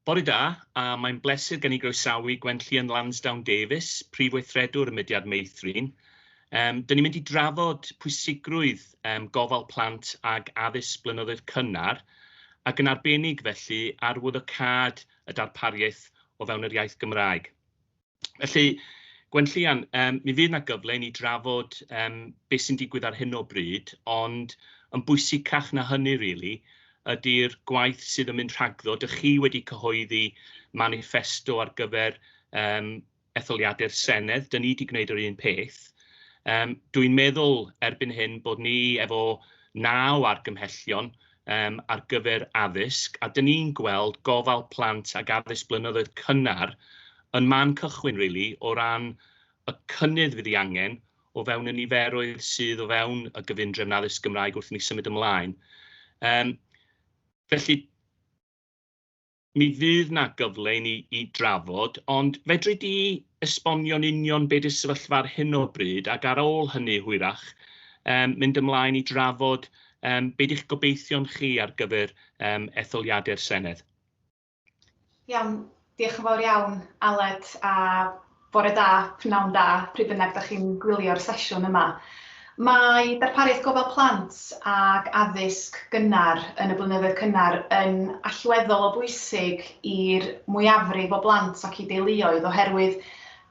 Bore da, a mae'n bleser gen i groesawu Gwenllian Lansdowne Davies, Prif Weithredwr y Mudiad Meithrin. Um, Dyn ni'n mynd i drafod pwysigrwydd um, gofal plant ag addysg blynyddoedd cynnar, ac yn arbennig felly arwyddocâd y darpariaeth o fewn yr iaith Gymraeg. Felly, Gwenllian, yym mi fydd 'na gyfle i ni drafod yym be' sy'n digwydd ar hyn o bryd, ond yn bwysicach na hynny rili ydi'r gwaith sydd yn mynd rhagddo. Dych chi wedi cyhoeddi maniffesto ar gyfer yym etholiadau'r Senedd, 'dyn ni 'di gwneud yr un peth. Yym dwi'n meddwl erbyn hyn bod ni efo naw argymhellion, um, ar gyfer addysg, a dyn ni'n gweld gofal plant ag addysg blynyddoedd cynnar yn man cychwyn, really, o ran y cynnydd fydd ei angen o fewn y niferoedd sydd o fewn y gyfundrefn addysg Gymraeg wrth i ni symud ymlaen. Um, felly, Mi fydd 'na gyfle i ni i drafod, ond fedri di esbonio'n union be 'di'r sefyllfa ar hyn o bryd, ac ar ôl hynny hwyrach yym mynd ymlaen i drafod yym be 'di'ch gobeithion chi ar gyfer yym etholiadau'r Senedd? Iawn, diolch yn fawr iawn Aled, a Bore da, pnawn da, pryd bynnag da chi'n gwylio'r sesiwn yma. Mae darpariaeth gofal plant ac addysg gynnar yn y blynyddoedd cynnar yn allweddol o bwysig i'r mwyafrif o blant ac i deuluoedd oherwydd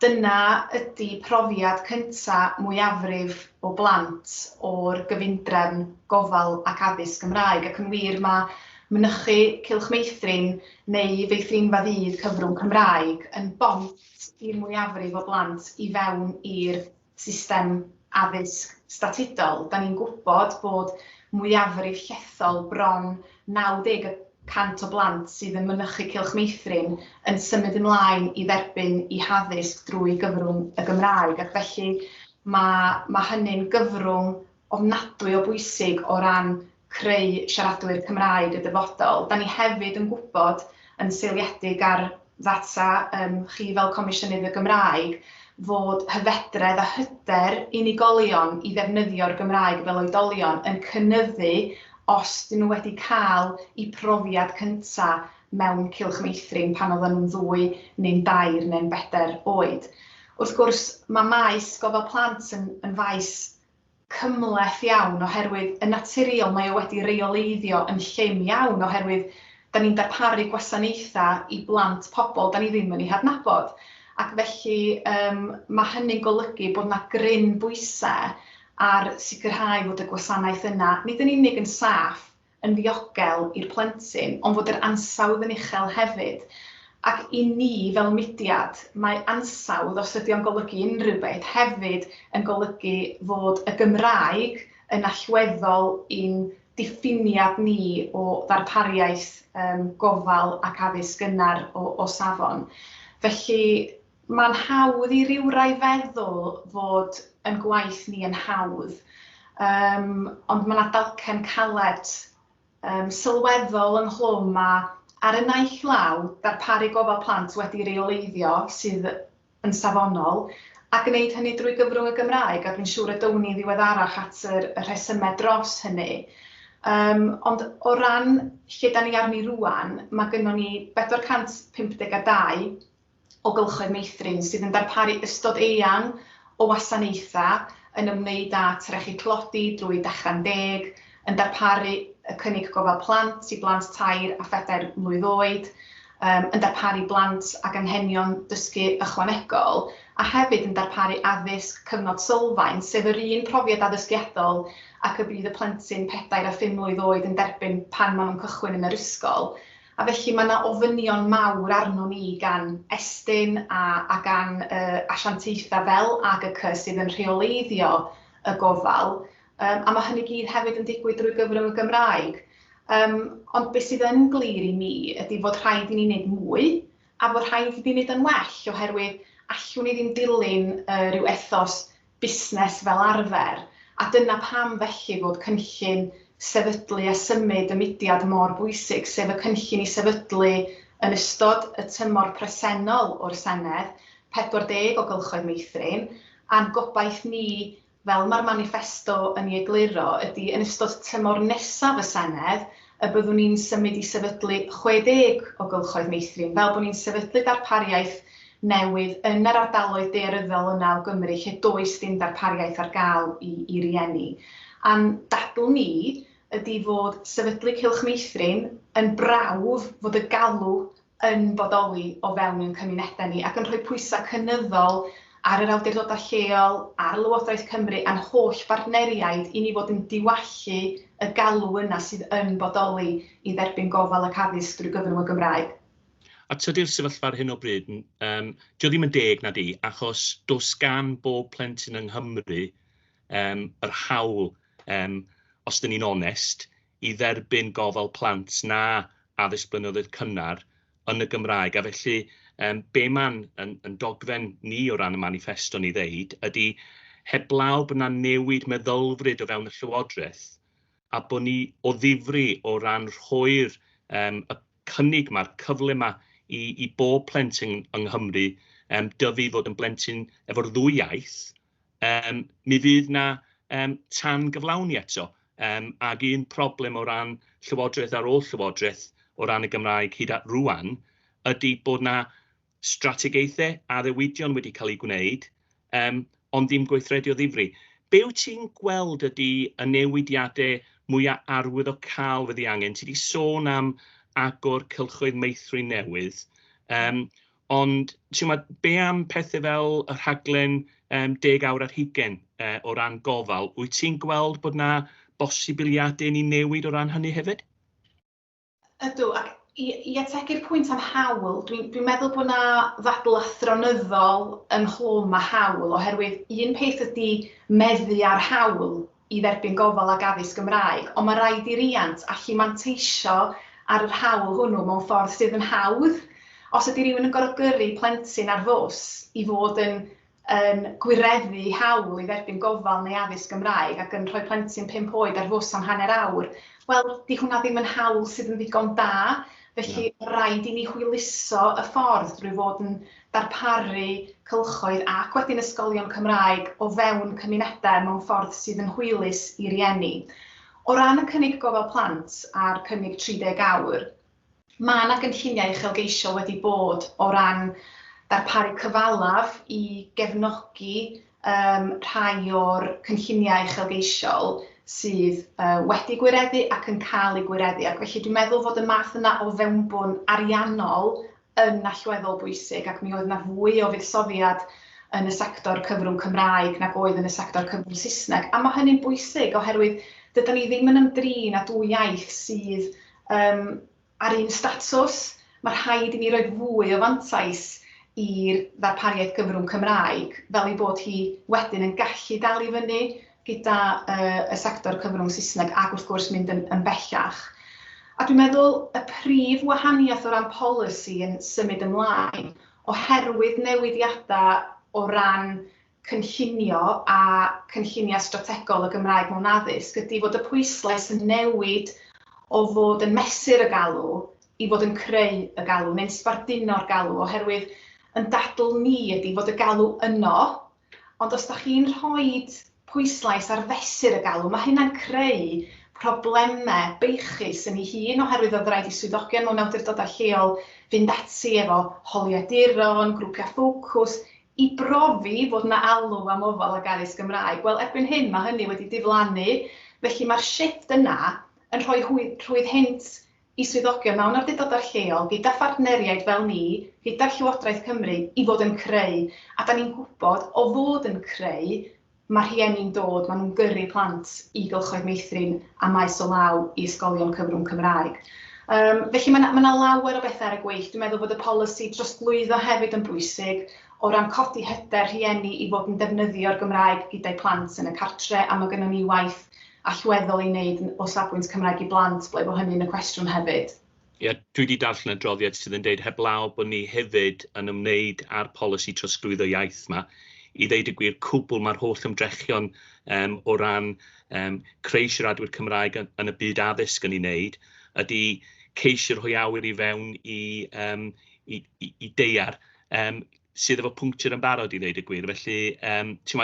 dyna ydy profiad cynta' mwyafrif o blant o'r gyfundrefn gofal ac addysg Gymraeg ac yn wir mae mynychu Cylch Meithrin neu feithrinfa ddydd cyfrwng Cymraeg yn bont i'r mwyafrif o blant i fewn i'r system addysg statudol. Da ni'n gwybod bod mwyafrif llethol, bron 90 y cant o blant sydd yn mynychu Cylch Meithrin yn symud ymlaen i dderbyn eu haddysg drwy gyfrwng y Gymraeg ac felly mae hynny'n gyfrwng ofnadwy o bwysig o ran creu siaradwyr Cymraeg y dyfodol. Da ni hefyd yn gwybod, yn seiliedig ar ddata yym chi fel Comisiynydd y Gymraeg, fod hyfedredd a hyder unigolion i ddefnyddio'r Gymraeg fel oedolion yn cynyddu os 'dyn nhw wedi cael eu profiad cynta' mewn cylch meithrin pan oedden nhw'n ddwy neu'n dair neu'n bedair oed. Wrth gwrs, mae maes gofal plant yn yn faes cymhleth iawn oherwydd yn naturiol mae o wedi reoleiddio yn llym iawn oherwydd 'da ni'n darparu gwasanaethau i blant pobl 'da ni ddim yn eu hadnabod ac felly yym ma' hynny'n golygu bod 'na gryn bwysau ar sicrhau fod y gwasanaeth yna nid yn unig yn saff yn ddiogel i'r plentyn ond fod yr ansawdd yn uchel hefyd ac i ni fel mudiad mae ansawdd, os ydy o'n golygu unrhyw beth, hefyd yn golygu fod y Gymraeg yn allweddol i'n diffiniad ni o ddarpariaeth gofal ac addysg gynnar o safon. Felly, Mae'n hawdd i rywrai feddwl fod yn gwaith ni yn hawdd, yym, ond mae 'na dalcen caled, yym, sylweddol ynghlwm a, ar y naill law, darparu gofal plant wedi reoleiddio sydd yn safonol, a gwneud hynny drwy gyfrwng y Gymraeg, a dwi'n siŵr y down ni ddiweddarach at yr y rhesymau dros hynny. Yym, ond o ran lle 'dan ni arni rŵan, mae gynnon ni 452 o gylchoedd meithrin sydd yn darparu ystod eang o wasanaethau yn ymwneud â trechu tlodi drwy Dechra'n Deg, yn darparu y cynnig gofal plant i blant tair a phedair mlwydd oed, yn darparu blant ag anghenion dysgu ychwanegol, a hefyd yn darparu addysg cyfnod sylfaen, sef yr un profiad addysgiadol ac y bydd y plentyn pedair a phum mlwydd oed yn derbyn pan maen nhw'n cychwyn yn yr ysgol. A felly mae yna ofynion mawr arnon ni gan Estyn a a gan y asiantaethau fel AGCC sydd yn rheoleiddio y gofal yym a mae hynny gyd hefyd yn digwydd drwy gyfrwng y Gymraeg yym ond be sydd yn glir i mi ydy fod rhaid i ni wneud mwy a fod rhaid i ni wneud yn well oherwydd allwn ni ddim dilyn yy rhyw ethos busnes fel arfer, a dyna pam felly fod cynllun sefydlu a symud y mudiad mor bwysig, sef y cynllun i sefydlu yn ystod y tymor presennol o'r Senedd, 40 o gylchoedd meithrin, a'n gobaith ni, fel mae'r maniffesto yn ei egluro, ydy yn ystod tymor nesaf y Senedd, y byddwn ni'n symud i sefydlu 60 o gylchoedd meithrin, fel bod ni'n sefydlu darpariaeth newydd yn yr ardaloedd daearyddol yna o Gymru lle does dim darpariaeth ar gael i i rieni. A'n dadl ni ydi fod sefydlu cylch meithrin yn brawf fod y galw yn bodoli o fewn ein cymunedau ni ac yn rhoi pwysau cynyddol ar yr awdurdodau lleol, ar Lywodraeth Cymru a'n holl bartneriaid i ni fod yn diwallu y galw yna sydd yn bodoli i dderbyn gofal ac addysg drwy gyfrwng y Gymraeg. A tydi'r sefyllfa ar hyn o bryd, yym, 'di o ddim yn deg, na 'di? Achos does gan bob plentyn yng Nghymru yym yr hawl, yym, os 'dyn ni'n onest, i dderbyn gofal plant na addysg blynyddoedd cynnar yn y Gymraeg, a felly yym be mae'n yn yn dogfen ni o ran y maniffesto ni ddeud ydy heblaw bod 'na newid meddylfryd o fewn y Llywodraeth a bod ni o ddifri o ran rhoi'r yym y cynnig ma'r cyfle ma i i bob plentyn yng Nghymru yym dyfu i fod yn blentyn efo'r ddwy iaith, Yym, mi fydd 'na yym tan-gyflawni eto, yym ac un problem o ran llywodraeth ar ôl llywodraeth o ran y Gymraeg hyd at rŵan ydy bod 'na strategaethau, addewidion wedi cael eu gwneud, yym ond ddim gweithredu o ddifri. Be wyt ti'n gweld ydy y newidiadau mwya' arwyddocaol fydd ei angen? Ti 'di sôn am agor cylchoedd meithrin newydd, yym Ond timod, be am pethau fel y rhaglen um, deg awr ar hugen uh, o ran gofal? Wyt ti'n gweld bod yna bosibiliadau ni newid o ran hynny hefyd? Ydw, ac i, i ategu'r pwynt am hawl, dwi'n dwi meddwl bod yna ddadl athronyddol ynghlwm a hawl, oherwydd un peth ydy meddu ar hawl, i dderbyn gofal ac addysg Gymraeg, ond mae rhaid i riant allu manteisio ar yr hawl hwnnw mewn ffordd sydd yn hawdd. Os ydy rhywun yn gorfod gyrru plentyn ar fws i fod yn yn gwireddu hawl i dderbyn gofal neu addysg Gymraeg ac yn rhoi plentyn pump oed ar fws am hanner awr, wel, 'di hwnna ddim yn hawl sydd yn ddigon da, felly rhaid i ni hwyluso y ffordd drwy fod yn darparu cylchoedd ac wedyn ysgolion Cymraeg o fewn cymunedau mewn ffordd sydd yn hwylus i rieni. O ran y cynnig gofal plant a'r cynnig 30 awr, mae yna gynlluniau uchelgeisiol wedi bod o ran darparu cyfalaf i gefnogi um, rhai o'r cynlluniau uchelgeisiol sydd uh, wedi gwireddu ac yn cael eu gwireddu. Ac felly dwi'n meddwl fod y math yna o fewnbwn ariannol yn allweddol bwysig ac mi oedd 'na fwy o fuddsoddiad yn y sector cyfrwng Cymraeg nag oedd yn y sector cyfrwng Saesneg, a mae hynny'n bwysig oherwydd dyda ni ddim yn ymdrin â dwy iaith sydd um, ar un statws. Mae rhaid i ni roi fwy o fantais i'r ddarpariaeth gyfrwng Cymraeg, fel ei bod hi wedyn yn gallu dal i fyny gyda y sector cyfrwng Saesneg ac wrth gwrs mynd yn bellach. A dwi'n meddwl y prif wahaniaeth o ran polisi yn symud ymlaen oherwydd newidiadau o ran cynllunio a cynlluniau strategol y Gymraeg mewn addysg ydy fod y pwyslais yn newid o fod yn mesur y galw i fod yn creu y galw neu'n sbarduno'r galw oherwydd yn dadl ni ydy fod y galw yno Ond os dach chi'n rhoi pwyslais ar fesur y galw, mae hynna'n creu problemau beichus yn ei hun oherwydd oedd rhaid i swyddogion mewn awdurdodau lleol fynd ati efo holiaduron, grwpiau ffocws, i brofi fod 'na alw am ofal ac addysg Gymraeg. Wel, erbyn hyn mae hynny wedi diflannu, felly mae'r shifft yna yn rhoi rhwydd hynt i swyddogion mewn awdurdodau lleol, gyda phartneriaid fel ni, gyda Llywodraeth Cymru, i fod yn creu, a 'da ni'n gwybod o fod yn creu, mae rhieni'n dod, maen nhw'n gyrru plant i gylchoedd meithrin a maes o law i ysgolion cyfrwng Cymraeg. Yym, felly mae 'na mae 'na lawer o bethau ar y gweill. Dwi'n meddwl bod y polisi drosglwyddo hefyd yn bwysig, o ran codi hyder rhieni i fod yn defnyddio'r Gymraeg gyda'u plant yn y cartre', a mae gynnon ni waith allweddol i wneud o safbwynt Cymraeg i Blant, ble bo hynny'n y cwestiwn hefyd. Ia, dwi wedi darllen y adroddiad sydd yn dweud heblaw bod ni hefyd yn ymwneud â'r polisi trosglwyddo iaith yma, i ddeud y gwir, cwbl mae'r holl ymdrechion um, o ran um, creu siaradwyr Cymraeg yn, yn y byd addysg yn ei wneud, ydy ceisio rhoi awyr i fewn i, um, i, i, i deiar um, sydd efo pwnctur yn barod i ddeud y gwir. Felly, um, ti'n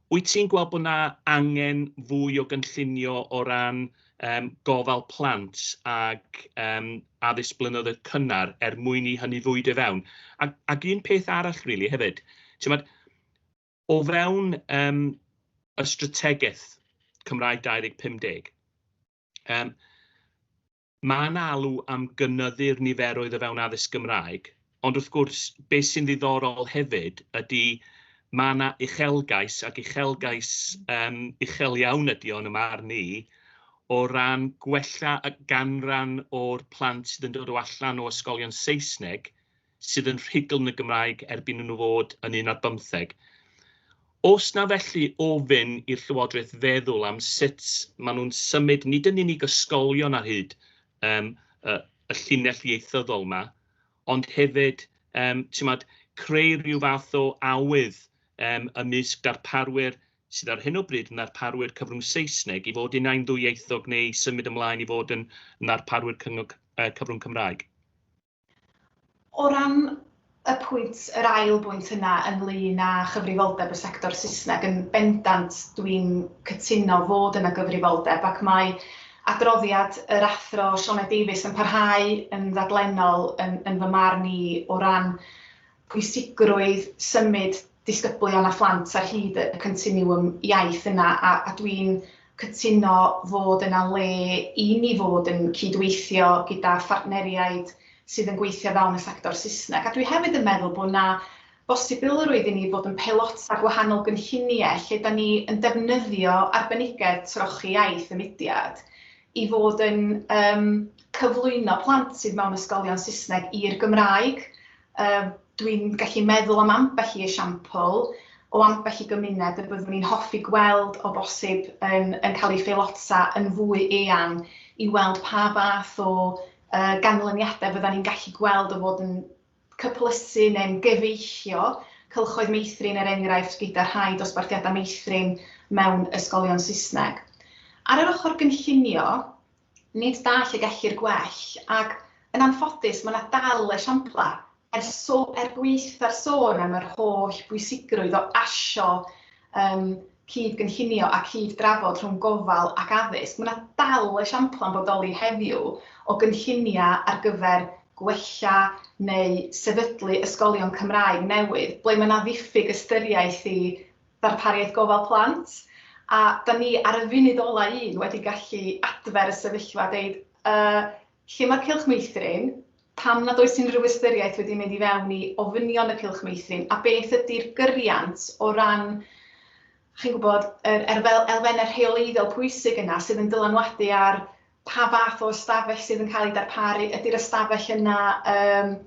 Wyt ti'n gweld bod 'na angen fwy o gynllunio o ran yym gofal plant ac yym addysg blynyddoedd cynnar er mwyn i hynny fwydo i fewn? Ac ac un peth arall rili hefyd, t'mod, o fewn yym y strategaeth Cymraeg 2050, yym, Mae yna alw am gynyddu'r niferoedd o fewn addysg Gymraeg, ond wrth gwrs, beth sy'n ddiddorol hefyd ydy mae yna uchelgais, ac uchelgais um, uchel iawn ydy o'n ymwneud ni, o ran gwella y ganran o'r plant sydd yn dod o allan o ysgolion Saesneg sydd yn rhugl yn y Gymraeg erbyn i nhw fod yn un ar bymtheg. Os na felly ofyn i'r Llywodraeth feddwl am sut maen nhw'n symud nid yn unig ysgolion ar hyd um, y, y llinell ieithyddol yma, ond hefyd um, tymod, creu rhyw fath o awydd um, ymysg darparwyr sydd ar hyn o bryd yn ddarparwyr cyfrwng Saesneg i fod yn ein ddwyieithog neu symud ymlaen i fod yn ddarparwyr cyfrwng Cymraeg. O ran y pwynt, yr ail bwynt yna ynglŷn â chyfrifoldeb y sector Saesneg, yn bendant dwi'n cytuno fod yna gyfrifoldeb ac mae adroddiad yr Athro Sioned Davies yn parhau yn ddaglennol yn fy marn i o ran pwysigrwydd symud disgyblion a phlant ar hyd y continwwm iaith yna a a dwi'n cytuno fod yna le i ni fod yn cyd-weithio gyda phartneriaid sydd yn gweithio fewn y sector Saesneg a dwi hefyd yn meddwl bod yna bosibilrwydd i ni fod yn peilota gwahanol gynlluniau lle da ni yn defnyddio arbenigedd trochi iaith y mudiad i fod yn yym cyflwyno plant sydd mewn ysgolion Saesneg i'r Gymraeg Uh, Dwi'n gallu meddwl am ambell i esiampl o ambell i gymuned y byddwn ni'n hoffi gweld o bosib yn, yn cael ei pheilota yn fwy eang i weld pa fath o uh, ganlyniadau fydda ni'n gallu gweld o fod yn cyplysu neu'n gyfeillio cylchoedd meithrin er enghraifft gyda rhai dosbarthiadau meithrin mewn ysgolion Saesneg. Ar yr ochr gynllunio, Nid da lle gellir gwell, ac, yn anffodus, mae yna dal esiamplau. Er so- er gwaetha'r sôn am yr holl bwysigrwydd o asio yym cyd-gynllunio a cyd-drafod rhwng gofal ac addysg, mae yna dal esiamplau yn bodoli heddiw o gynlluniau ar gyfer gwella neu sefydlu ysgolion Cymraeg newydd ble mae yna ddiffyg ystyriaeth i Darpariaeth Gofal Plant, a 'da ni ar y funud ola' un wedi gallu adfer y sefyllfa a deud yy lle ma'r cylch meithrin, pam nad oes unrhyw ystyriaeth wedi mynd i fewn i ofynion y cylch meithrin a beth ydi'r gyriant o ran chi'n gwybod yr elfenne rheoleiddiol pwysig yna sydd yn dylanwadu ar pa fath o ystafell sydd yn cael ei darparu, ydy'r ystafell yna yym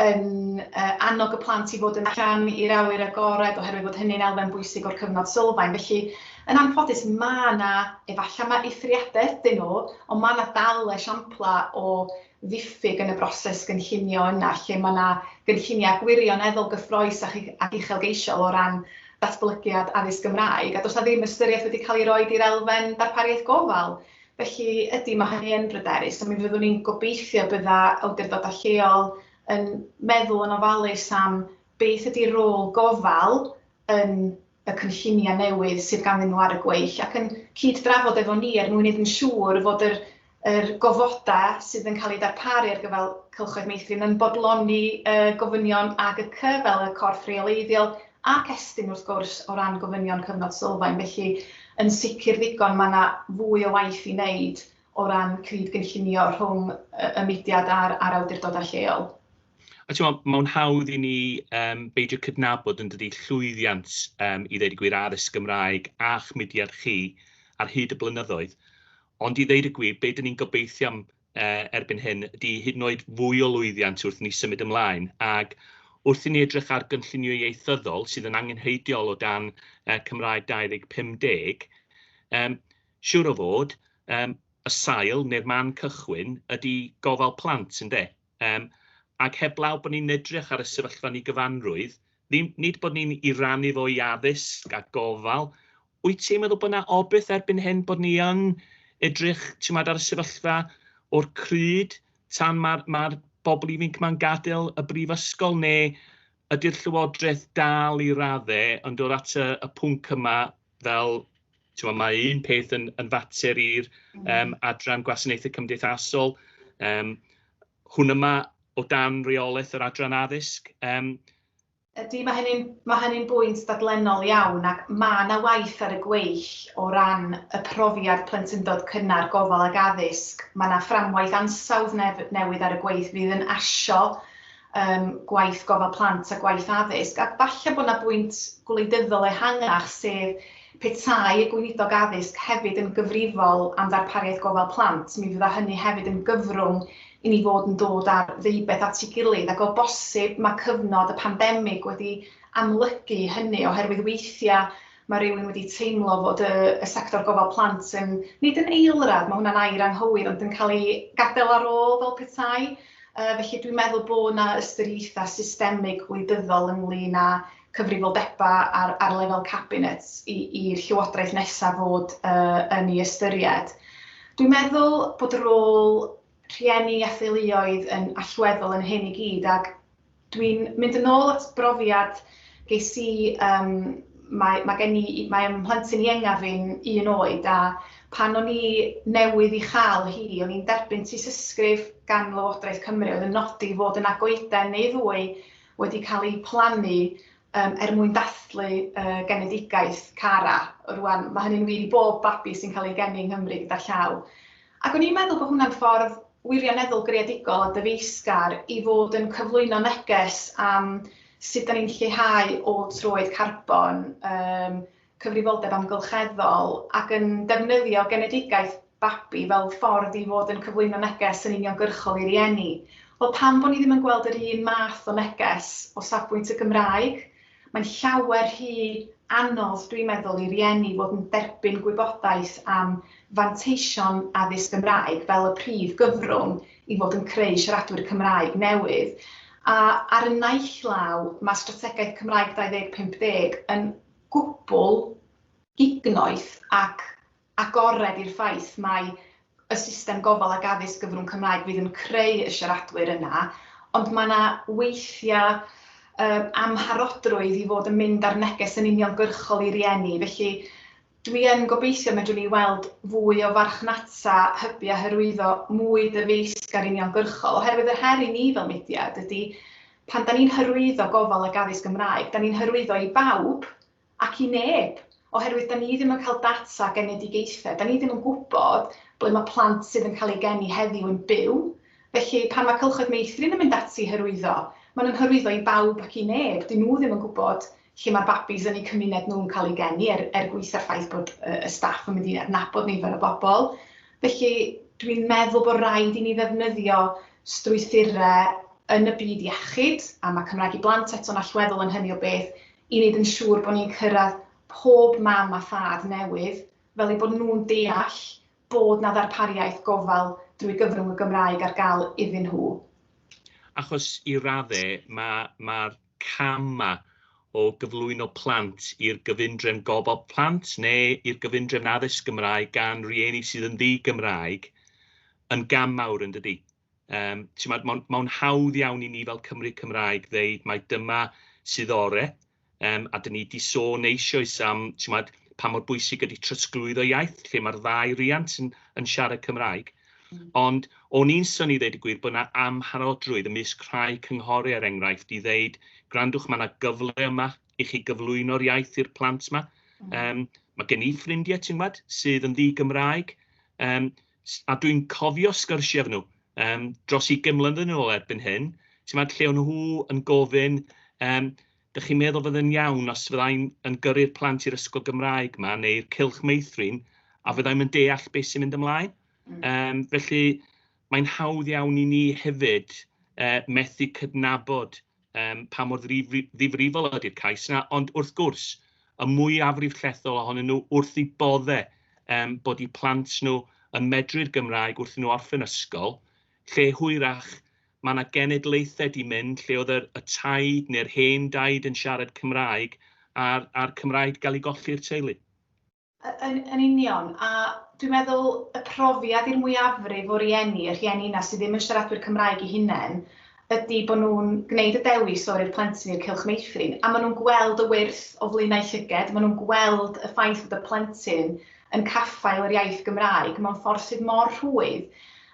yn yy annog y plant i fod yn allan i'r awyr agored oherwydd bod hynny'n elfen bwysig o'r cyfnod sylfaen. Felly, yn anffodus, mae yna, efallai mae eithriadau ydyn nhw, ond mae yna dal esiamplau o ddiffyg yn y broses gynllunio yna lle mae yna gynlluniau gwirioneddol gyffrous ac ac uchelgeisiol o ran datblygiad addysg Gymraeg, a does 'na ddim ystyriaeth wedi cael ei roi i'r elfen darpariaeth gofal. Felly, ydy, mae hynny yn bryderus, a mi fyddwn ni'n gobeithio bydda awdurdodau lleol yn meddwl yn ofalus am beth ydy rôl gofal yn y cynlluniau newydd sydd ganddyn nhw ar y gweill ac yn cyd-drafod efo ni er mwyn wneud yn siŵr fod yr, yr gofodau sydd yn cael eu darparu ar gyfer cylchoedd meithrin yn bodloni y gofynion AGC fel y corff reoleiddiol Ac estyn wrth gwrs o ran gofynion cyfnod sylfaen, felly yn sicr ddigon mae yna fwy o waith i wneud o ran cyd-gynllunio rhwng y mudiad a'r a'r awdurdodau lleol. A timod, mae'n hawdd i ni um, beidio cydnabod yn dydy llwyddiant um, i ddeud y gwir addysg Gymraeg a'ch mudiad chi ar hyd y blynyddoedd. Ond i ddeud y gwir, be dyn ni'n gobeithio am erbyn hyn ydy hyd yn oed fwy o lwyddiant wrth i ni symud ymlaen, ac wrth i ni edrych ar gynllunio ieithyddol sydd yn angenrheidiol o dan Cymraeg 2050, siŵr o fod, y sail neu'r man cychwyn ydy gofal plant, ynde? Ac heblaw bod ni'n edrych ar y sefyllfa yn ei gyfanrwydd, nid bod ni'n ei rannu fo i addysg a gofal, Wyt ti'n meddwl bod 'na obaith erbyn hyn bod ni yn edrych, ti'mod, ar y sefyllfa o'r crud tan ma'r ma'r bobl ifinc 'ma'n gadael y brifysgol, neu ydy'r Llywodraeth dal i radde yn dod at y y pwnc yma fel, ti'mod, ma' un peth yn yn fater i'r yym adran gwasanaethau cymdeithasol, yym hwn yma o dan reolaeth yr adran addysg, yym Ydy, mae hynny'n ma hynny bwynt dadlennol iawn ac mae yna waith ar y gweill o ran y profiad plentyndod cynnar, gofal ac addysg. Mae yna fframwaith ansawdd nef newydd ar y gweill fydd yn asio um, gwaith gofal plant a gwaith addysg. A falle bod yna bwynt gwleidyddol ehangach sef Petai y Gweinidog Addysg hefyd yn gyfrifol am ddarpariaeth gofal plant, mi fydda hynny hefyd yn gyfrwng i ni fod yn dod â'r ddeubeth at ei gilydd, ac o bosib mae cyfnod y pandemig wedi amlygu hynny, oherwydd weithiau mae rhywun wedi teimlo fod y y sector gofal plant yn, nid yn eilradd, mae hwnna'n air anghywir, ond yn cael ei gadael ar ôl fel petai. Yy felly dwi'n meddwl bod 'na ystyriaethau systemig gwleidyddol ynglŷn â cyfrifoldebau ar ar lefel cabinet i i'r llywodraeth nesaf fod yy yn ei ystyried. Dwi'n meddwl bod y rôl rhieni a theuluoedd yn allweddol yn hyn i gyd ac dwi'n mynd yn ôl at brofiad ges i um, mae, mae gen i, mae ym mhlentyn ienga fi'n un oed a pan o'n i newydd i chael hi, o'n i'n derbyn tysysgrif gan Lywodraeth Cymru oedd yn nodi fod yna goeden neu ddwy wedi cael eu plannu yym er mwyn dathlu y genedigaeth Cara. Rŵan, mae hynny'n wir i bob babi sy'n cael ei geni yng Nghymru gyda llaw. Ac o'n i'n meddwl bod hwnna'n ffordd wirioneddol greadigol a dyfeisgar i fod yn cyflwyno neges am sut 'da ni'n lleihau ôl troed carbon, yym cyfrifoldeb amgylcheddol ac yn defnyddio genedigaeth babi fel ffordd i fod yn cyflwyno neges yn uniongyrchol i rieni. Wel, pam bod ni ddim yn gweld yr un math o neges o safbwynt y Gymraeg? Mae'n llawer rhy anodd, dwi'n meddwl, i rieni fod yn derbyn gwybodaeth am fanteision addysg Gymraeg fel y prif gyfrwng i fod yn creu siaradwyr Cymraeg newydd. A ar y naill law, mae Strategaeth Cymraeg 2050 yn gwbl gignoeth ac agored i'r ffaith mai y system gofal ac addysg gyfrwng Cymraeg fydd yn creu y siaradwyr yna, ond mae yna weithiau amharodrwydd i fod yn mynd â'r neges yn uniongyrchol i rieni. Felly, dwi yn gobeithio y medrwn ni weld fwy o farchnata hybu a hyrwyddo mwy dyfeisgar uniongyrchol, oherwydd yr her i ni fel mudiad ydy Pan 'da ni'n hyrwyddo gofal ac addysg Gymraeg, 'da ni'n hyrwyddo i bawb ac i neb, oherwydd 'da ni ddim yn cael data genedigaethau, 'da ni ddim yn gwybod ble mae plant sydd yn cael eu geni heddiw yn byw, felly pan mae Cylchoedd Meithrin yn mynd ati i hyrwyddo, maen nhw'n hyrwyddo i bawb ac i neb, 'dyn nhw ddim yn gwybod lle mae'r babis yn eu cymuned nhw'n cael eu geni, er er gwis a'r ffaith bod y staff yn mynd i adnabod nifer o bobl. Felly, dwi'n meddwl bod rhaid i ni ddefnyddio strwythurau yn y byd iechyd, a mae Cymraeg i Blant eto'n allweddol yn hynny o beth, i wneud yn siŵr bod ni'n cyrraedd pob mam a thad newydd, fel eu bod nhw'n deall bod 'na ddarpariaeth gofal drwy gyfrwng y Gymraeg ar gael iddyn nhw. Achos i raddau, mae, mae'r camau o gyflwyno plant i'r gyfundrefn gofal plant neu i'r gyfundrefn addysg Gymraeg gan rieni sydd yn ddi-Gymraeg yn gam mawr yn dydi? Yym, t'mod, mae'n ma hawdd iawn i ni fel Cymry Cymraeg ddeud mai dyma sydd ore, um, a dyn ni wedi sôn eisoes am t'mod, pa mor bwysig ydy trosglwyddo iaith, lle mae'r ddau riant yn, yn siarad Cymraeg. Ond o'n i'n synnu i ddeud y gwir bod 'na amharodrwydd ymysg rhai cynghori er enghraifft i ddeud gwrandwch ma' 'na gyfle yma i chi gyflwyno'r iaith i'r plant 'ma. Yym ma' gen i ffrindie ti'n gwbod sydd yn ddi-Gymraeg yym s- a dwi'n cofio sgyrsie efo nhw yym dros ugain mlynedd yn ôl erbyn hyn, ti'n gwbod lle o' nhw yn gofyn yym Dych chi'n meddwl fydde'n iawn os fyddai'n yn gyrru'r plant i'r ysgol Gymraeg ma, neu'r cylch meithrin, a fyddai'n yn deall beth sy'n mynd ymlaen? Mm. Um, felly, mae'n hawdd iawn i ni hefyd uh, methu cydnabod um, pa mor ddifrifol ydy'r cais yna, ond wrth gwrs, y mwy afrif llethol ohonyn nhw wrth i bodde um, bod i plant nhw yn medru'r Gymraeg wrth nhw orffen ysgol, lle hwyrach Mae 'na genedlaethau 'di mynd lle oedd yr y taid neu'r hen daid yn siarad Cymraeg a'r a'r Cymraeg 'di gael ei golli i'r teulu. Yn yn union, a dwi'n meddwl y profiad i'r mwyafrif o rieni, y rhieni 'na sydd ddim yn siaradwyr Cymraeg eu hunain, ydi bod nhw'n gwneud y dewis o roi'r plentyn i'r Cylch Meithrin, a maen nhw'n gweld y wyrth o flaenau llyged, maen nhw'n gweld y ffaith bod y plentyn yn caffael yr iaith Gymraeg mewn ffordd sydd mor rhwydd,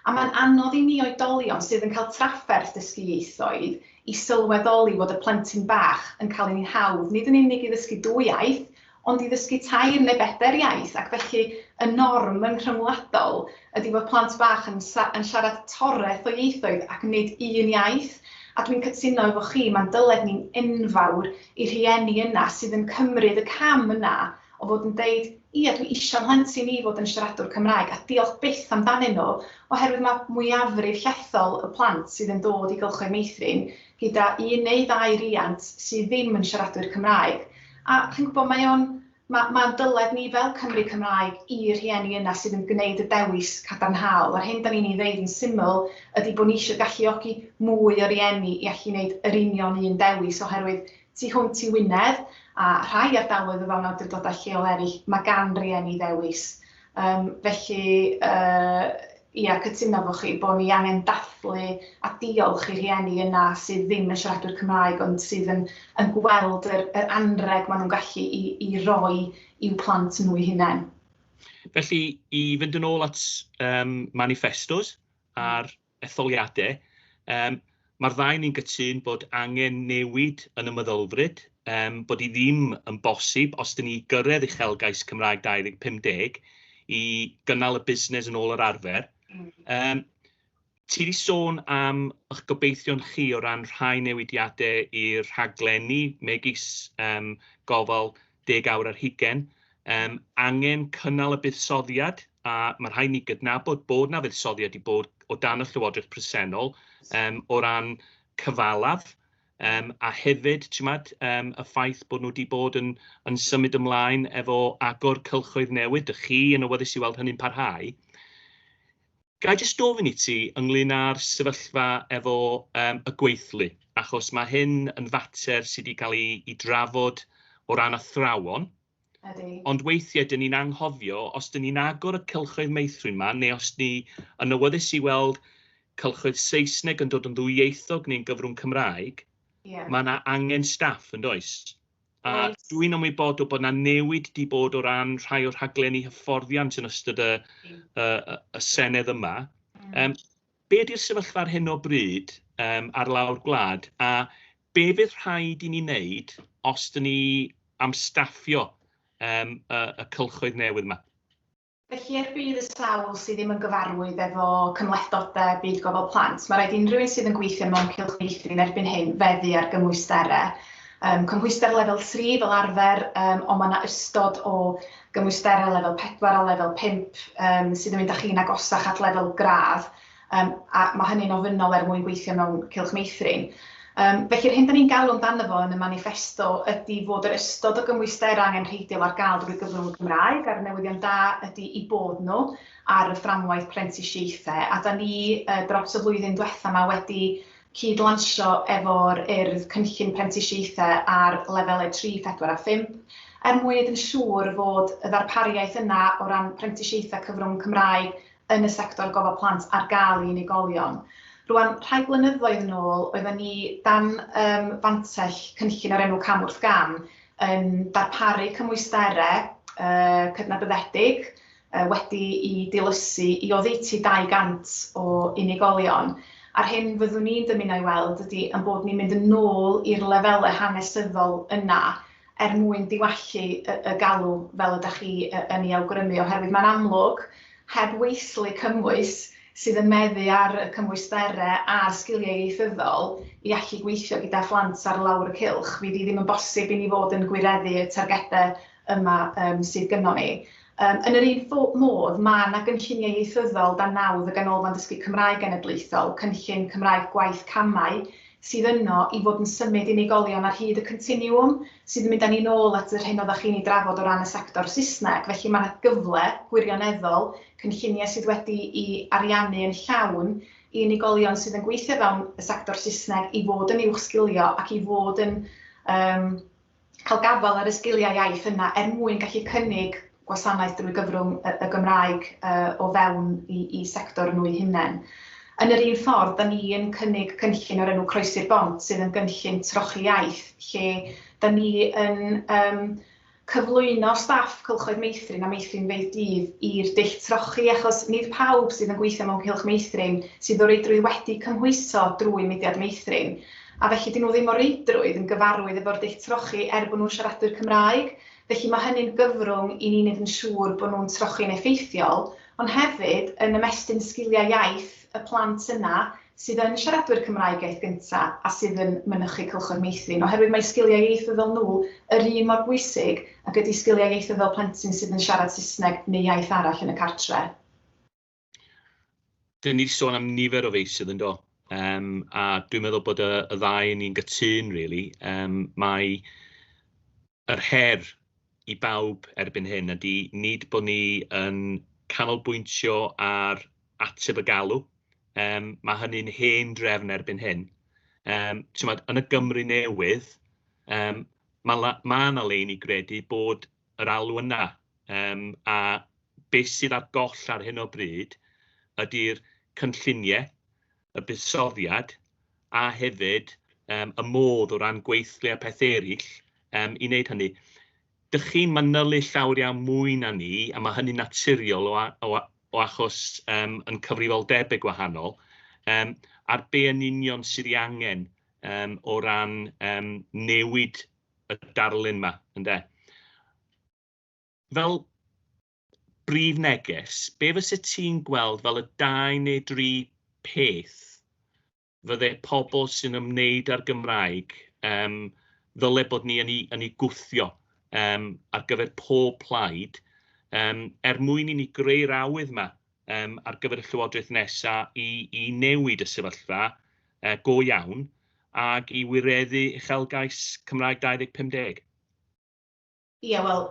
A mae'n anodd i ni oedolion sydd yn cael trafferth dysgu ieithoedd i sylweddoli fod y plentyn bach yn cael ei hawdd nid yn unig i ddysgu dwy iaith, ond i ddysgu tair neu bedair iaith ac felly y norm yn rhyngwladol ydi fod plant bach yn yn siarad toreth o ieithoedd ac nid un iaith a dwi'n cytuno efo chi mae'n dyled ni'n enfawr i rhieni yna sydd yn cymryd y cam yna o fod yn deud Ie, dwi isio 'mhlentyn i fod yn siaradwr Cymraeg, a diolch byth amdanyn nhw, oherwydd mae mwyafrif llethol y plant sydd yn dod i gylchoedd meithrin gyda un neu ddau riant sydd ddim yn siaradwyr Cymraeg, a chi'n gwybod, mae o'n, ma', ma'n dyled ni fel Cymry Cymraeg i'r rhieni yna sydd yn gwneud y dewis cadarnhaol, yr hyn 'dan ni'n ei ddeud yn syml ydi bod ni isio galluogi mwy o rieni i allu 'neud yr union un dewis, oherwydd Tu hwnt i Wynedd, a rhai ardaloedd o fewn awdurdodau lleol eraill, mae gan rieni ddewis. Yym, felly, yy, ia, cytuno efo chi bod ni angen dathlu a diolch i rhieni yna sydd ddim yn siaradwyr Cymraeg ond sydd yn yn gweld yr yr anrheg maen nhw'n gallu i i roi i'w plant nhw eu hunain. Felly, i fynd yn ôl at um, manifestos a'r etholiadau. Yym, mae'r ddau ni'n gytun bod angen newid yn y meddylfryd, yym, bod hi ddim yn bosib, os dyn ni i gyrraedd uchelgais Cymraeg 2050, i gynnal y busnes yn ôl yr arfer. Yym, ti wedi sôn am eich gobeithion chi o ran rhai newidiadau i'r rhaglenni, megis yym, gofal deg awr ar hugain, yym, angen cynnal y buddsoddiad, a ma' rhaid ni gydnabod bod 'na fuddsoddiad 'di bod o dan y Llywodraeth presennol, yym, o ran cyfalaf, yym, a hefyd, chi'mod, yym, y ffaith bod nhw 'di bod yn yn symud ymlaen efo agor cylchoedd newydd, 'dych chi yn awyddus i weld hynny'n parhau. Ga i jyst gofyn i ti ynglyn â'r sefyllfa efo yym y gweithlu, achos ma' hyn yn fater sy' 'di ca'l 'i 'i drafod o ran athrawon. Ydi. Ond weithie 'dyn ni'n anghofio os 'dyn ni'n agor y cylchoedd meithrin 'ma neu os ni yn awyddus i weld cylchoedd Saesneg yn dod yn ddwyieithog neu'n gyfrwng Cymraeg... Ie. ...ma' 'na angen staff yndoes? A dwi'n ymwybodol bod yna newid wedi bod o ran rhai o'r rhaglenni hyfforddiant yn ystod y, y, y Senedd yma. Mm. Um, be ydy'r sefyllfa ar hyn o bryd um, ar lawr gwlad a be fydd rhaid i ni wneud os dyn ni am staffio um, y, y cylchoedd newydd yma? Felly, er budd y sawl sydd ddim yn gyfarwydd efo cymhlethdodau Byd Gofal Plant, mae rhaid i unrhyw un sydd yn gweithio mewn cylch meithrin erbyn hyn feddu ar gymwysterau. Yym, cymhwyster lefel tri fel arfer, yym, ond mae yna ystod o gymwysterau lefel pedwar a lefel pump yym, sydd yn mynd â chi'n agosach at lefel gradd, Yym, a mae hynny'n ofynnol er mwyn gweithio mewn cylch meithrin. Yym, felly, yr hyn da ni'n galw amdano fo yn y maniffesto ydi fod yr ystod o gymwysterau angenrheidiol ar gael drwy gyfrwng y Gymraeg, a'r newyddion da ydi eu bod nhw ar y fframwaith prentisiaethau, a da ni yy dros y flwyddyn diwetha' ma' wedi cyd-lansio efo'r Urdd cynllun prentisiaethau ar lefelau tri, phedwar a phump, er mwyn neud yn siŵr fod y ddarpariaeth yna o ran prentisiaethau cyfrwng Cymraeg yn y sector gofal plant ar gael i unigolion. Rwan, rhai blynyddoedd yn ôl, oedden ni dan um, fantell cynllun o'r enw Cam wrth Gam yn darparu cymwysterau uh, cydnabyddedig uh, wedi i dilysu i oddeutu 200 o unigolion. A'r hyn fyddwn ni'n dymuno i weld ydy yn bod ni'n mynd yn ôl i'r lefelau hanesyddol yna er mwyn diwallu y galw fel ydych chi yn ei awgrymu, oherwydd mae'n amlwg, heb weithlu cymwys sydd yn meddu ar y cymwysterau a'r sgiliau ieithyddol i allu gweithio gyda phlant ar lawr y cylch, fydd hi ddim yn bosib i ni fod yn gwireddu y targedau yma sydd gynnon ni. Yn yr un modd, mae yna gynlluniau ieithyddol dan nawdd y Ganolfan Dysgu Cymraeg Genedlaethol, Cynllun Cymraeg Gwaith Camau, sydd yno i fod yn symud unigolion ar hyd y continiwwm, sydd yn mynd â ni'n ôl at yr hyn oeddach chi'n ei drafod o ran y sector Saesneg. Felly mae yna gyfle gwirioneddol, cynlluniau sydd wedi'u ariannu yn llawn, i unigolion sydd yn gweithio fewn y sector Saesneg i fod yn uwchsgilio ac i fod yn yym cael gafael ar y sgiliau iaith yna er mwyn gallu cynnig gwasanaeth drwy gyfrwng y Gymraeg o fewn i sector nhw'u hunain. Yn yr un ffordd, da ni yn cynnig cynllun o'r enw Croesi'r Bont sydd yn gynllun trochi iaith lle da ni yn cyflwyno staff cylchoedd meithrin a meithrinfeydd dydd i'r dull trochi achos nid pawb sydd yn gweithio mewn cylch meithrin sydd o reidrwydd wedi cymhwyso drwy mudiad meithrin. A felly 'dyn nhw ddim o reidrwydd yn gyfarwydd efo'r dull trochi er bod nhw'n siaradwyr Cymraeg. Felly ma' hynny'n gyfrwng i ni neud yn siŵr bo' nhw'n trochi'n effeithiol, ond hefyd yn ymestyn sgiliau iaith y plant yna sydd yn siaradwyr Cymraeg iaith gynta a sydd yn mynychu Cylchoedd Meithrin, oherwydd mae sgiliau ieithyddol nhw yr un mor bwysig ag ydi sgiliau ieithyddol plentyn sydd yn siarad Saesneg neu iaith arall yn y cartre. Dyn ni wedi sôn am nifer o feysydd yn do, um, a dwi'n meddwl bod y, y ddau ni'n gytun, really. Um, mae yr her i bawb erbyn hyn ydy nid bod ni yn canolbwyntio ar ateb y galw, Um, mae hynny'n hen drefn erbyn hyn. Um, Tymod, yn y Gymru newydd, um, mae yna ma lein i gredu bod yr alw yna, yym a be sydd ar goll ar hyn o bryd ydy'r cynlluniau, y buddsoddiad a hefyd yym y modd o ran gweithlu a peth eraill yym i wneud hynny. Dych chi'n manylu llawer iawn mwy na ni, a mae hynny'n naturiol o, o, o achos um, yn cyfrifoldebau gwahanol, um, ar be yn union sydd ei angen um, o ran um, newid y darlun yma, ynde? Fel brif neges, be fysa ti'n gweld fel y dau neu dri peth fydde pobl sy'n ymwneud â'r Gymraeg um, ddyle bod ni yn ei, yn ei gwthio um, ar gyfer pob plaid, um, er mwyn i ni greu'r awydd yma um, ar gyfer y llywodraeth nesaf i, i newid y sefyllfa uh, go iawn ac i wireddu uchelgais Cymraeg 2050? Ie, yeah, wel,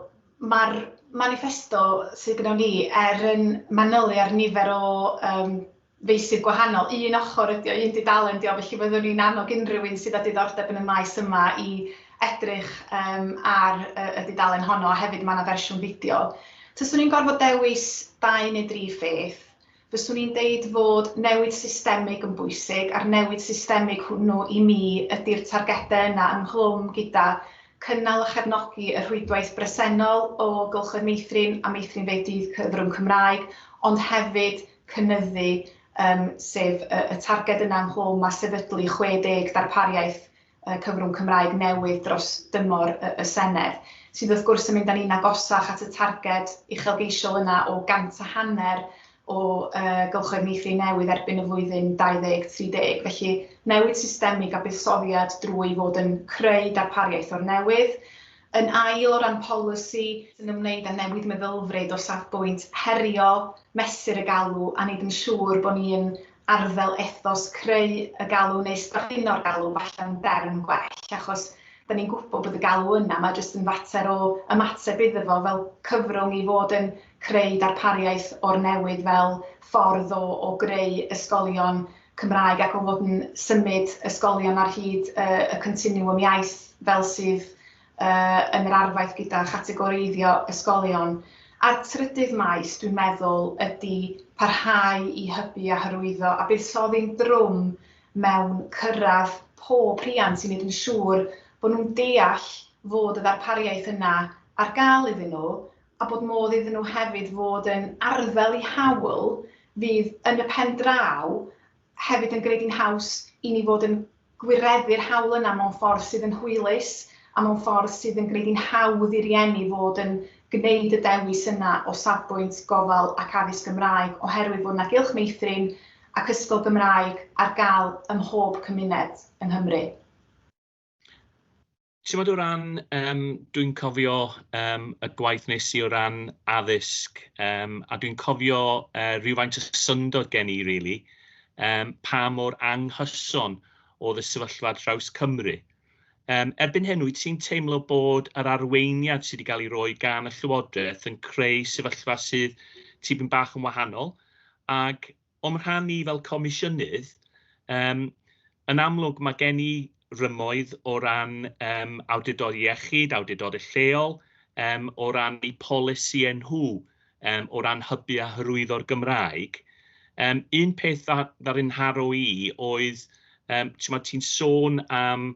mae'r manifesto sydd gyda ni er yn manylu ar nifer o um, feisydd gwahanol. Un ochr ydy o, un dudalen ydy o, felly fyddwn ni'n annog unrhyw un sydd â diddordeb yn y maes yma i edrych yym ar y dudalen honno a hefyd ma' 'na fersiwn fideo. Taswn i'n gorfod dewis dau neu dri pheth, fyswn i'n deud fod newid systemig yn bwysig a'r newid systemig hwnnw i mi ydi'r targedau yna ynghlwm gyda cynnal a chefnogi y rhwydwaith bresennol o gylchoedd meithrin a meithrinfeydd dydd cyfrwng Cymraeg ond hefyd cynyddu yym sef y targed yna ynghlwm â sefydlu 60 darpariaeth cyfrwng Cymraeg newydd dros dymor y Senedd, sydd wrth gwrs yn mynd â ni'n agosach at y targed uchelgeisiol yna o gant a hanner o gylchoedd meithrin newydd erbyn y flwyddyn 2030. Felly, newid systemig a buddsoddiad drwy fod yn creu darpariaeth o'r newydd. Yn ail, o ran polisi, sy'n ymwneud â newid meddylfryd o safbwynt herio, mesur y galw, a wneud yn siŵr bod ni'n arddel ethos creu y galw neu strapino'r galw falle yn derm gwell achos 'da ni'n gwybod bod y galw yna, mae jyst yn fater o ymateb iddo fo fel cyfrwng i fod yn creu darpariaeth o'r newydd fel ffordd o o greu ysgolion Cymraeg ac o fod yn symud ysgolion ar hyd y y continiwwm iaith fel sydd yy yn yr arfaeth gyda chategoreiddio ysgolion. A'r trydydd maes, dwi'n meddwl, ydy parhau i hybu a hyrwyddo a buddsoddi'n drwm mewn cyrraedd pob rhiant i wneud yn siŵr bod nhw'n deall fod y ddarpariaeth yna ar gael iddyn nhw a bod modd iddyn nhw hefyd fod yn arddel i hawl fydd yn y pen draw hefyd yn gwneud hi'n haws i ni fod yn gwireddu'r hawl yna mewn ffordd sydd yn hwylus a mewn ffordd sydd yn gwneud hi'n hawdd i rieni fod yn gwneud y dewis yna o safbwynt gofal ac addysg Gymraeg oherwydd fod 'na gylch meithrin ac ysgol Gymraeg ar gael ym mhob cymuned yng Nghymru. Timod o ran, yym, dwi'n cofio yym y gwaith wnes i o ran addysg yym a dwi'n cofio yy rywfaint o syndod gen i rili yym pa mor anghyson oedd y sefyllfa ar draws Cymru. Yym erbyn hyn wyt ti'n teimlo bod yr arweiniad sydd wedi cael ei roi gan y Llywodraeth yn creu sefyllfa sydd tipyn bach yn wahanol ac O'm rhan i fel Comisiynydd, yym, yn amlwg mae gen i rymoedd o ran yym awdurdod iechyd, awdurdodau lleol, yym, o ran eu polisïau nhw, yym, o ran hybu a hyrwyddo'r Gymraeg. Yym, un peth dda- ddaru ngharo i oedd, yym, timod, ti'n sôn am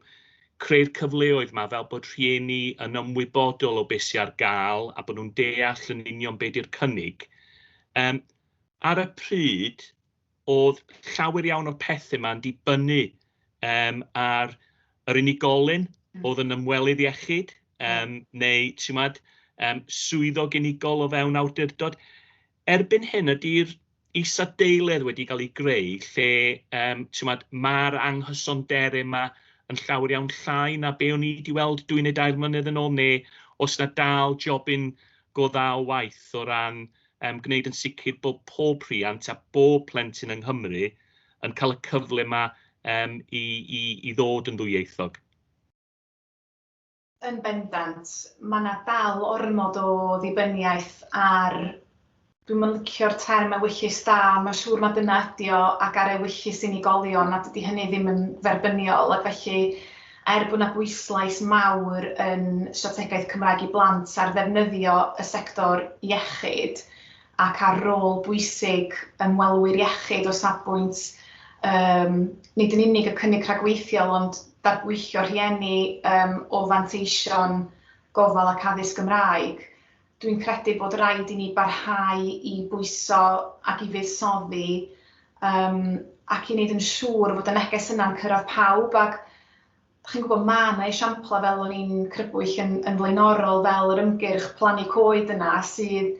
creu'r cyfleoedd 'ma fel bod rhieni yn ymwybodol o be sy ar gael a bod nhw'n deall yn union be di'r cynnig. Yym, Ar y pryd, oedd llawer iawn o'r pethe 'ma yn dibynnu yym ar yr unigolyn oedd yn ymwelydd iechyd yym neu ti'mod yym swyddog unigol o fewn awdurdod. Erbyn hyn ydi'r isadeiledd wedi cael ei greu lle yym ti'mod ma'r anghysondere 'ma yn llawer iawn llai na be' o'n i 'di weld dwy neu dair mlynedd yn ôl ne' o's 'na dal jobyn go dda o waith o ran um, gwneud yn sicr bod pob rhiant a bob plentyn yng Nghymru yn cael y cyfle yma um, i, i, i ddod yn ddwyieithog. Yn bendant, mae yna dal ormod o ddibyniaeth ar dwi'n yn licio'r term ewyllys da, mae'n siŵr mae dyna ydi o, ac ar ewyllys unigolion, a dydy hynny ddim yn dderbyniol, ac felly Er bod 'na bwyslais mawr yn Strategaeth Cymraeg i Blant ar ddefnyddio y sector iechyd ac ar rôl bwysig ymwelwyr iechyd o safbwynt yym nid yn unig y cynnig rhagweithiol ond darbwyllo rhieni yym o fanteision gofal ac addysg Gymraeg, Dwi'n credu bod rhaid i ni barhau i bwyso ac i fuddsoddi um, ac i wneud yn siŵr fod y neges yna'n cyrraedd pawb ac chi'n gwybod mae yna esiamplau fel o'n i'n crybwyll yn, yn flaenorol fel yr ymgyrch plannu coed yna sydd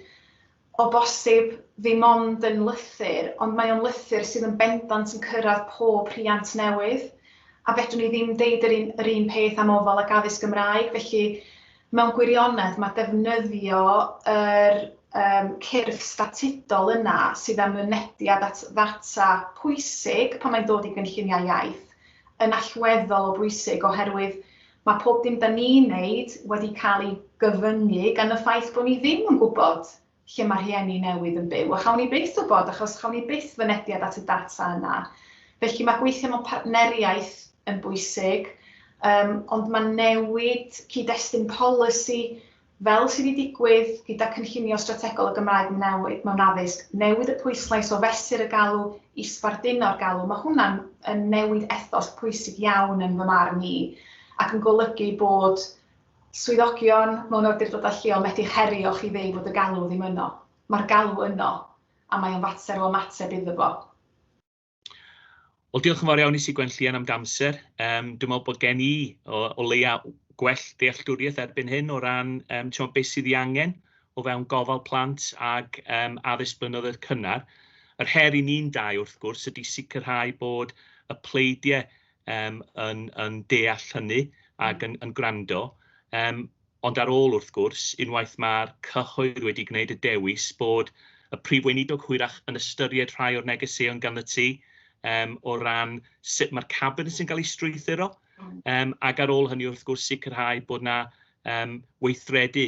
o bosib ddim ond yn lythyr ond mae o'n lythyr sydd yn bendant yn cyrraedd pob rhiant newydd a fedrwn ni ddim deud yr un, yr un peth am ofal ac addysg Gymraeg felly Mewn gwirionedd, mae defnyddio yr um, cyrff statudol yna sydd â mynediad at ddata pwysig pan mae'n dod i gynlluniau iaith yn allweddol o bwysig oherwydd mae pob dim da ni'n wneud wedi cael ei gyfyngu gan y ffaith bod ni ddim yn gwybod lle mae rhieni newydd yn byw, a chawn ni byth wybod achos chawn ni byth fynediad at y data yna. Felly mae gweithio mewn partneriaeth yn bwysig, um, ond mae newid cyd-destun polisi fel sydd wedi digwydd gyda cynllunio strategol y Gymraeg mewn addysg, newid y pwyslais o fesur y galw i sbarduno'r galw, mae hwnna'n newid ethos pwysig iawn yn fy marn i, ac yn golygu bod Swyddogion mewn awdurdodau lleol methu herio chi ddeu fod y galw ddim yno. Mae'r galw yno, a mae o'n fater o ymateb iddo fo. Wel, diolch yn fawr iawn i Sigwen Llian am d'amser. Yym, dwi'n meddwl bod gen i o, o leia gwell dealltwriaeth erbyn hyn o ran um, timo, beth sydd ei angen o fewn gofal plant ag um, addysg blynyddoedd cynnar. Yr her i ni'n dau, wrth gwrs, ydy sicrhau bod y pleidiau um, yn, yn deall hynny ac yn, yn gwrando. Um, ond ar ôl wrth gwrs, unwaith mae'r cyhoedd wedi gwneud y dewis bod y prif weinidog hwyrach yn ystyried rhai o'r negeseuon gan y tu um, o ran sut mae'r cabinet yn cael ei strwythuro, um, ac ar ôl hynny wrth gwrs sicrhau bod yna um, weithredu